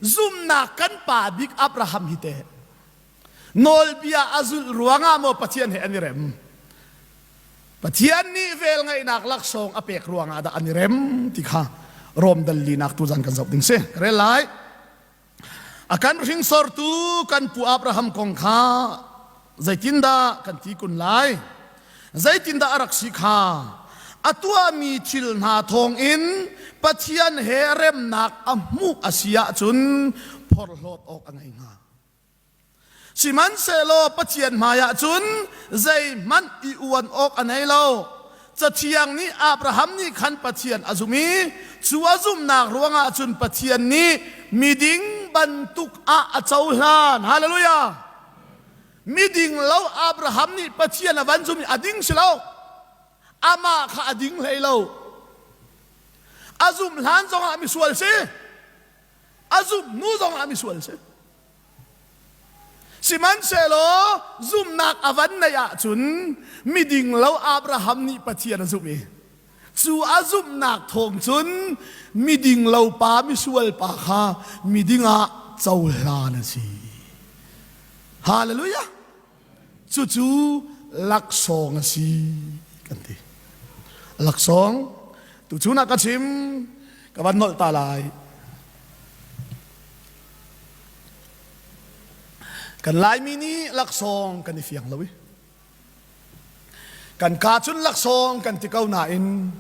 Zumhnak kan pa bik Abraham hi teh nawlbia a zulh ruangah maw Pathian he an i rem? Pathian nih vel ngaihnak laksawng a pek ruangah dah an i rem ti kha Rom dalinak tu zan kan zoh ding si. Ka rel lai. A kan hringsortu kan pu Abraham kong kha zeitindah kan ti kun lai zeitindah a rak si kha a tuahmi thil hna thawngin Pathian he remnak a hmuh a si ahcun phorhlawt awk a ngei hnga sihmanhsehlaw Pathian hmaiah cun zeihmanh i uan awk a nei lo cathiang nih Abraham nih khan Pathian a zum i cu a zumnak ruangah cun Pathian nih miding bantuk ah a cohlan hallelujah Miding lo Abraham nih Pathian a van zumh i a ding si lo. Amah kha a ding hlei lo. A zumh hlan zongah misual si. A zumh hnu zongah misual si. Sihmanhsehlaw zumhnak a van neih ahcun miding lo Abraham nih Pathian a zumh i Cu a zumhnak thawng cun miding lopa misualpa kha miding ah cohlan a si. Hallelujah! Cucu laksawng a si kan ti. Laksawng, tuchun ah ka chim, ka van nolh ta lai. Kan Laimi nih laksawng kan i fiang lo i, kan ka cun laksawng kan ti ko nain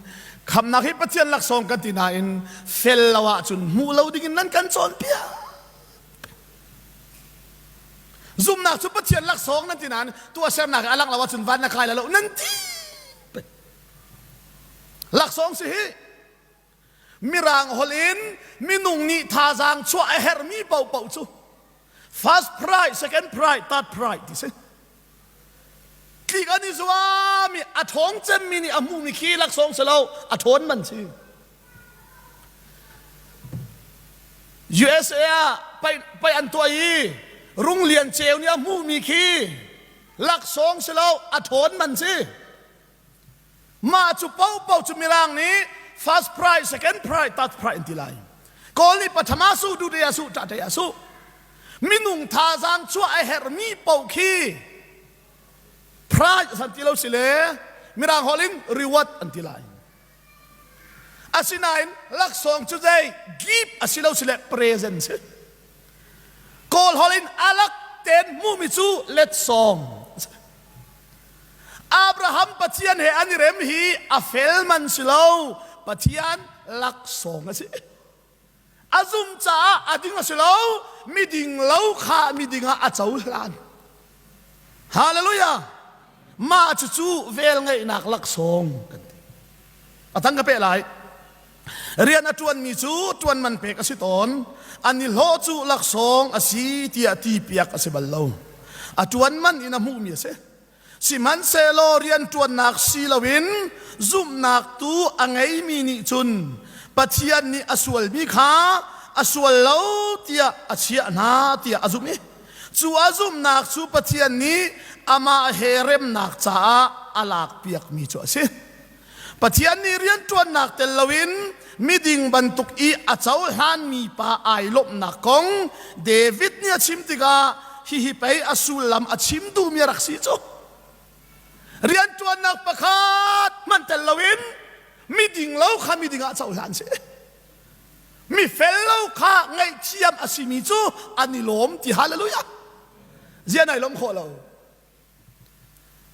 khamnak hi pathian laksawng kan ti nain fel lo ahcun hmuh lo dingin nan kan cawnpiak zumnak cu pathian laksawng nan ti nain tuahsernak a lang lo ahcun van na kai lo nan ti laksawng si hi Mirang holh in minung nih thazaang chuah a herhmi paohpaoh cu first prize, second prize, third prize ti si. Tlik an i zuam i a ṭhawng cemmi nih a hmumi khi laksawng si lo, a ṭhawn man si. USA ah pei, pei an tuah i Rung Lian Ceu nih a hmumi khi laksawng si lo, a ṭhawn man si. Mah cu popo cu mirang nih first pride, second pride, third pride an ti lai. Kawl nih patham ah suh, duhdai ah suh, ṭaṭai ah suh. Minung thazang chuah a herhmi paoh khi pride an ti lo si le mirang holh in reward an ti lai. Asinain laksawng cu zei give a si lo sile present si. Kawl holh in alak ten hmumi cu letsawng Abraham Pathian he an i rem hi a fel man si lo. Pathian laksawng a si. a zum caah a ding a si lo miding lo kha miding ah a cohlan hallelujah mah cucu vel ngeihnak laksawng kan ti a tang ka pe lai rian a ṭuan mi cu ṭuan man pek a si tawn an i hlawh cu laksawng a si tiah ti piak a si bal lo a ṭuan man in a hmuhmi a si Sihmanhsehlaw rianṭuannak si loin zumhnak tu a ngeimi nih cun Pathian nih a sualmi kha a sual lo tiah a chiah hna tiah a zumh i cu a zumhnak cu Pathian nih amah he remnak caah a lakpiakmi cu a si. Pathian nih rianṭuannak tel loin miding bantuk i a cohlanmi pa ai lawmhnak kong David nih a chim tikah hihi pei a sullam a chim duhmi a rak si cu. Rianṭuannak pakhat hmanh tel loin miding lo kha miding ah cohlan si. Mifel lo kha ngaihthiam a simi cu an i lawm ti hallelujah. Zian ai lawm khawh lo.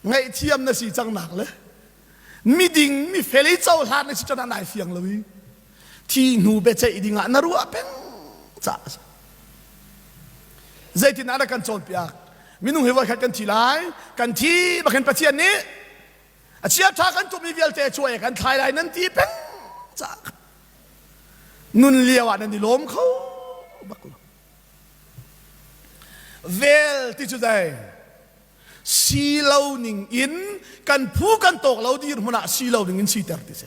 ngaihthiam na si cang nak le miding mifel i cohlan na si cun nai fiang lo i thi hnu beceih ding ah na ruah peng ca a si zeitin ah kan cawnpiak minung hi voi khat kan thi lai kan thi bakin pathian nih a chia tha kan tum i vialte chuai kan thlai lai nan ti peng ca nun lio ah nan i lawm kho bak lo Vel ti cu dei si lo ning in kan phu kan tawk lo dirhmun ah si lo ning in siter ti si.